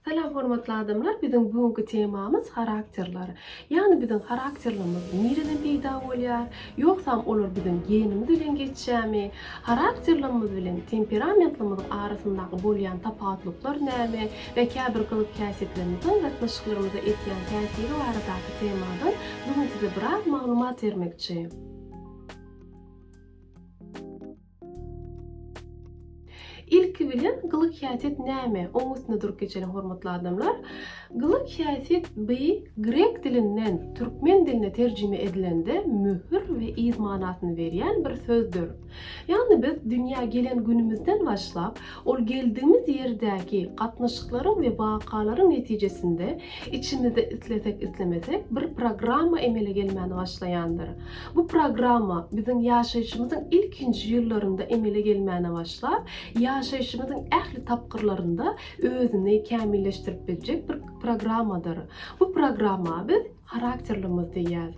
Salam hormatly adamlar biziň bu günki temamyz harakterler. Ýagny biziň harakterlerimiz nireden peýda bolýar? Ýogsam olar biziň genimiz bilen geçýärmi? Harakterlerimiz bilen temperamentlerimiz arasyndaky bolýan tapawutlyklar näme we käbir gyzyk-häsiýetlerimiziň gatnaşyklarymyza etýän täsiri baradaky temadan bu gün size biraz maglumat bermekçi. Ilki bilen gylyk häsiýet näme? Oň üstünde durup geçeliň hormatly adamlar. Gylyk häsiýet by grek dilinden türkmen diline terjime edilende möhür we yz manasyny berýän bir sözdür. Ýagny biz dünýä gelen günümizden başlap, ol geldigimiz ýerdäki gatnaşyklaryň we wakalaryň netijesinde içimizde islesek-islemesek bir programma emele gelmäni başlaýandyr. Bu programma biziň ýaşaýşymyzyň ilkinji ýyllarynda emele gelmäne başlap, ýaşaýşymyzyň ähli tapgyrlarynda özüni kämilleşdirip biljek bir programmadyr. Bu programma biz harakterlimiz diýýäs.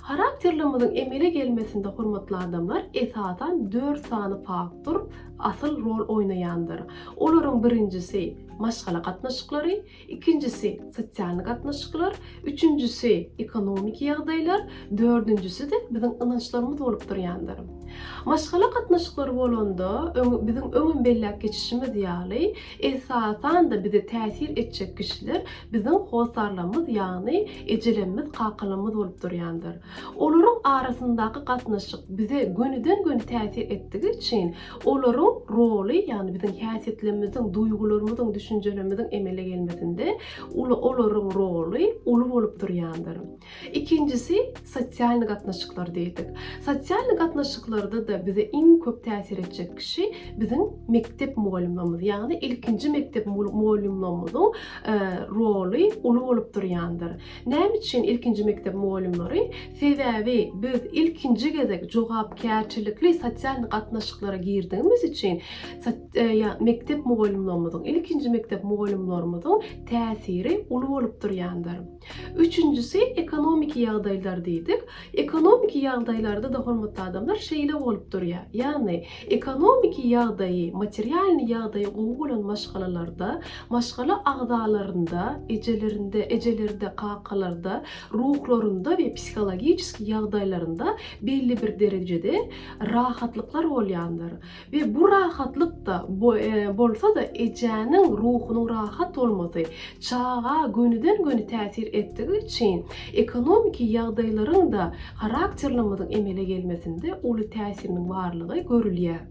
Harakterlimiziň emele gelmesinde hormatly adamlar esasan dört sany faktor asyl rol oýnaýandyr. Olaryň birinjisi maşgala gatnaşyklary, ikinjisi sosial gatnaşyklar, üçünjisi ekonomiki ýagdaýlar, dördünjisi-de biziň ynançlarymyz bolup durýandyr. Maşgala gatnaşyklary bolanda, biziň öňem belläp geçişimiz ýaly, esasan-da bize täsir etjek kişiler biziň hossarlarymyz, ýagny ejelerimiz, kakalarymyz bolup durýandyr. Olaryň arasyndaky gatnaşyk bize gönüden-göni täsir etdigi üçin, Olaryň roly, ýagny biziň häsiýetlerimiziň, duýgularymyzyň, düşünjelerimiziň emele gelmesinde uly olaryň roly uly bolup durýandyr. Ikinjisi sosial gatnaşyklar diýdik. Sosial gatnaşyklarda-da bize iň köp täsir etjek kişi biziň mekdep mugallymymyz, ýagny ilkinji mekdep mugallymlarymyzyň roly uly bolup durýandyr. Näme üçin ilkinji mekdep mugallymlary? Sebäbi biz ilkinji gezek jogapkärçilikli sosial gatnaşyklara girdigimiz üçin mekdep mugallymlarymyzyň, ilkinji mekdep mugallymlarymyzyň täsiri uly bolup durýandyr. Üçünjisi ekonomiki ýagdaýlar diýdik. Ekonomiki ýagdaýlarda-da hormatly adamlar şeýle bolup durýar. Ýagny Ekonomiki ýagdaýy, materialnyý ýagdaýy gowy bolan maşgalalarda, maşgala agzalarynda, ejelerinde, ejelerde, kakalarda, ruhlarynda we psihologiçeski ýagdaýlarynda belli bir derejede rahatlyklar bolýandyr we bu rahatlyk-da bolsa-da ejäniň ruhunyň rahat bolmasy, çaga gönüden-göni täsir etdigi üçin Ekonomiki ýagdaýlaryň-da harakterlemediň emele gelmesinde uly täsiriniň barlygy görülýär.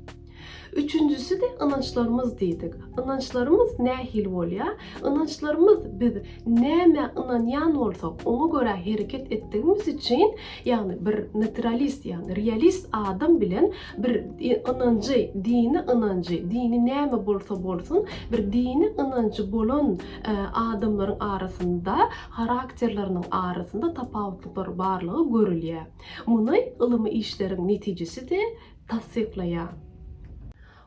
Üçünjisi-de ynançlarymyz diýdik. Ynançlarymyz nähili bolýar? Ynançlarymyz biz nämä ynanýan bolsak, oňa görä hereket etdigimiz üçin, ýagny bir naturalist, ýagny realist adam bilen bir ynanjy, dini ynanjy, dini näme bolsa bolsun, bir dini ynanjy bolan adamlaryň arasynda harakterleriniň arasynda tapawutlyklar barlygy görülýär. Muny ylmy işleriň netijesi-de tassyklaýar.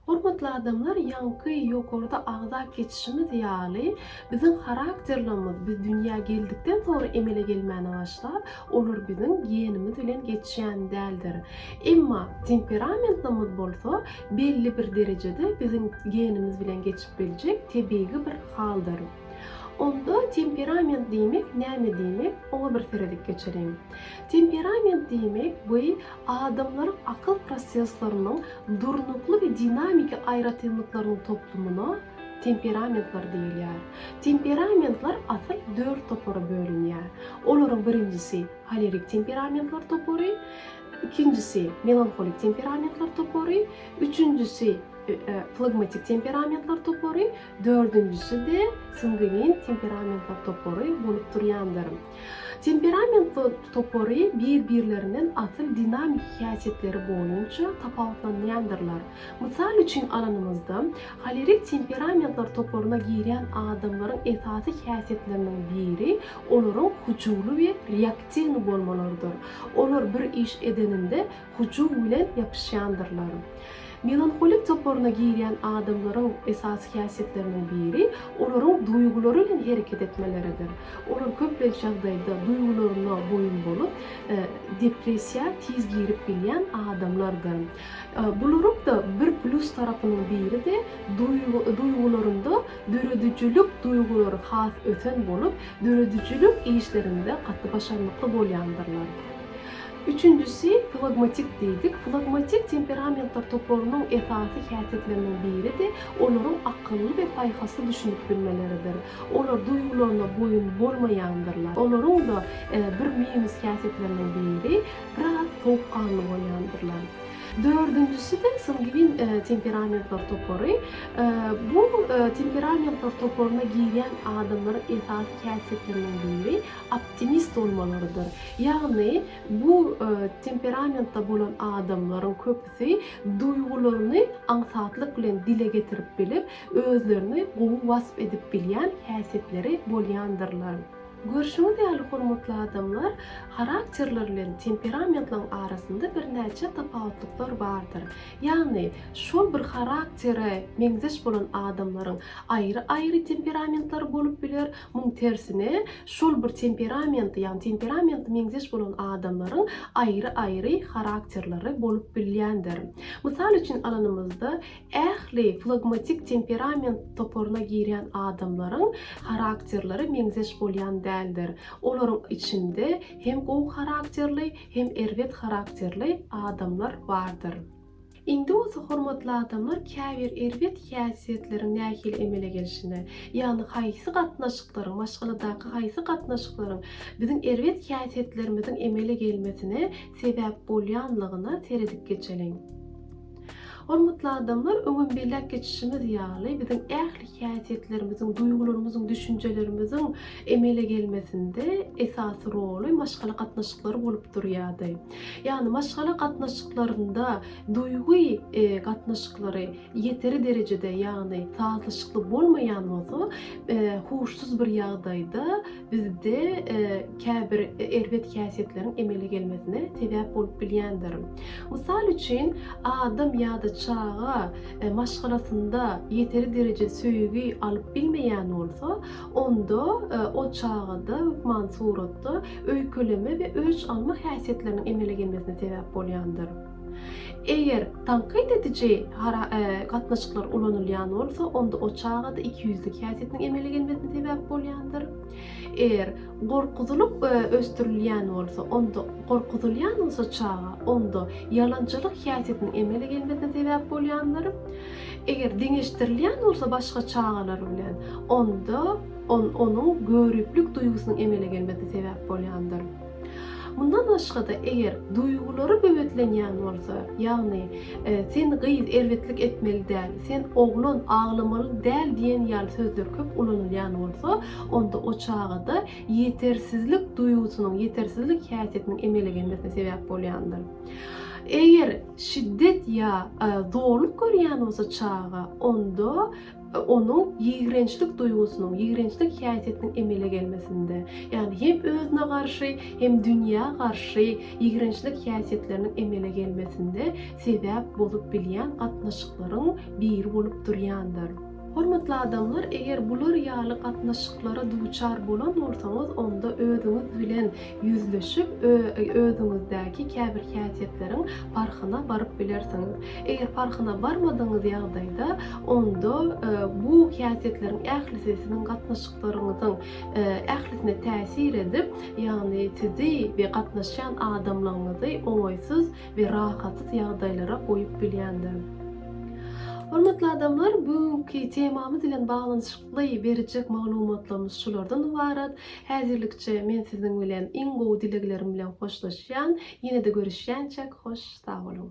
Hormatly adamlar, ýaňky ýokarda agza keçişimiz ýaly, biziň harakterlerimiz biz dünýä geldikden soňra emele gelmäne başlap, olar biziň genimiz bilen geçýän däldir. Emma temperamentimiz bolsa belli bir derejede biziň genimiz bilen geçip biljek tebigy bir haldyr. Onda temperament diýmek näme diýmek, oňa bir seredip geçeliň. Temperament diýmek bu adamlaryň akyl prosesleriniň durnukly we dinamiki aýratynlyklarynyň toplumyna temperamentler diýilýär. Temperamentler asyl dört topara bölünýär. Olaryň birinjisi holerik temperamentler topary, ikinjisi melanholik temperamentler topary, üçünjisi flagmatik temperamentler topary, Dördünjisi-de sanguin temperamentler topary bolup durýandyr. Temperament topary bir-birlerinden asyl dinamiki häsiýetleri boýunça tapawutlanýandyrlar. Mysal üçin alanymyzda, holerik temperamentler toparyna girýän adamlaryň esasy häsiýetleriniň biri olaryň hyjuwly we reaktiwny bolmalarydyr. Olar bir iş edeninde hyjuw bilen ýapyşýandyrlar. Melanholik toparyna girýän adamlaryň esasy häsiýetleriniň biri olaryň duýgulary bilen hereket etmeleridir. Olar köplenç ýagdaýda duýgularyna boýun bolup, depressiýa tiz girip bilýän adamlardyr. Bularyň-da bir plýus tarapynyň biri-de duýgularynda döredijilik duýgulary has ösen bolup, döredijilik işlerinde gaty başarnykly bolýandyrlar. Üçünjisi, flagmatik diýdik. Flagmatik temperamentler toparynyň esasy häsiýetleriniň biri-de olaryň akylly we paýhasly düşünip bilmeleridir. Olar duýgularyna boýun bolmaýandyrlar. Olaryň-da bir minus häsiýetleriniň biri, biraz sowukganly bolýandyrlar. Dördünjisi-de sangwin temperamentler topary. Bu temperamentler toparyna girýän adamlaryň esasy häsiýetleriniň biri, optimist bolmalarydyr. Ýagny bu temperamentde bolan adamlaryň köpüsi duýgularyny aňsatlyk bilen dile getirip bilip, özlerini gowy wasp edip bilýän häsiýetleri bolýandyrlar. Görşüňiz ýaly hormatly adamlar, harakterler bilen temperamentlaryň arasynda birnäçe tapawutlyklar bardyr. Ýagny şol bir haraktere meňzeş bolan adamlaryň aýry-aýry temperamentlary bolup biler, Muň tersine, şol bir temperamenti, ýagny temperamenti meňzeş bolan adamlaryň aýry-aýry harakterleri bolup bilýändir. Mysal üçin alanymyzda, ähli flagmatik temperament toparyna girýän adamlaryň harakterleri meňzeş bolýan däldir. Olaryň içinde hem gowy harakterli, hem erbet harakterli adamlar bardyr. Indi bolsa hormatly adamlar käbir erbet häsiýetleriň nähili emele gelişine, ýagny haýsy gatnaşyklaryň, maşgaladaky haýsy gatnaşyklaryň biziň erbet häsiýetlerimiziň emele gelmesine sebäp bolýanlygyna seredip geçeliň. Hormatly adamlar, öňem belläp geçişimiz ýaly, biziň ähli häsiýetlerimiziň, duýgularymyzyň, düşünjelerimiziň emele gelmesinde esasy roly maşgala gatnaşyklary bolup durýardy. Ýagny maşgala gatnaşyklarynda duýgy gatnaşyklary ýeteri derejede ýagny sazlaşykly bolmaýan bolsa, huşsuz bir ýagdaýda bizde käbir erbet häsiýetleriň emele gelmesine sebäp bolup bilýändir. Mysal üçin, adam ýa-da çaga maşgalasynda ýeteri derejede söýgi alyp bilmeýän bolsa, Onda o çagada hökman suratda öýkeleme we öç alma häsiýetleriniň emele gelmesine sebäp bolýandyr. Eger tankyt ediji gatnaşyklar ulanylýan bolsa, onda o çagada ikiýüzlük häsiýetiniň emele gelmesine sebäp bolýandyr. Eger gorkuzylyk ösdürilýän bolsa, onda gorkuzylýan bolsa çaga, onda ýalançylyk häsiýetiniň emele gelmesine sebäp bolýandyr. Eger deňeşdirilýän bolsa başga çagalar bilen, onda ol onuň göriplik duýgusynyň emele gelmesine sebäp bolýandyr. Mundan başga-da, eger duýgulary böwetlenýän bolsa, ýagny sen gyz erbetlik etmeli däl, sen oglan aglamaly däl diýen ýaly sözler köp ulanylýan bolsa, onda o çagada ýetersizlik duýgusynyň, ýetersizlik häsiýetiniň emele gelmesine sebäp bolýandyr. Eger. şiddet ýa zorluk görýän bolsa çaga, onda onuň ýigrençlik duýgusynyň, ýigrençlik häsiýetiniň emele gelmesinde, ýagny hem özüne garşy, hem dünýä garşy ýigrençlik häsiýetleriniň emele gelmesinde sebäp bolup bilýän gatnaşyklaryň biri bolup durýandyr. Hormatly adamlar, eger bular ýaly gatnaşyklara duçar bolan bolsaňyz, onda özüňiz bilen ýüzleşip, özüňizdäki käbir häsiýetleriň parhyna baryp bilersiňiz. Eger parhyna barmadygyňyz ýagdaýda, onda bu häsiýetleriň ählisi siziň gatnaşyklaryňyzyň ählisine täsir edip, ýagny sizi we gatnaşýan adamlaryňyzy oňaýsyz we rahatsyz ýagdaýlara goýup bilýändir. Hormatly adamlar, bu günki temamyz bilen baglanyşykly berjek maglumatlarymyz şulardan ybarat. Häzirlikçe men siziň bilen iň gowy dileglerim bilen hoşlaşýan. Ýene-de görüşýänçäk hoş sag boluň.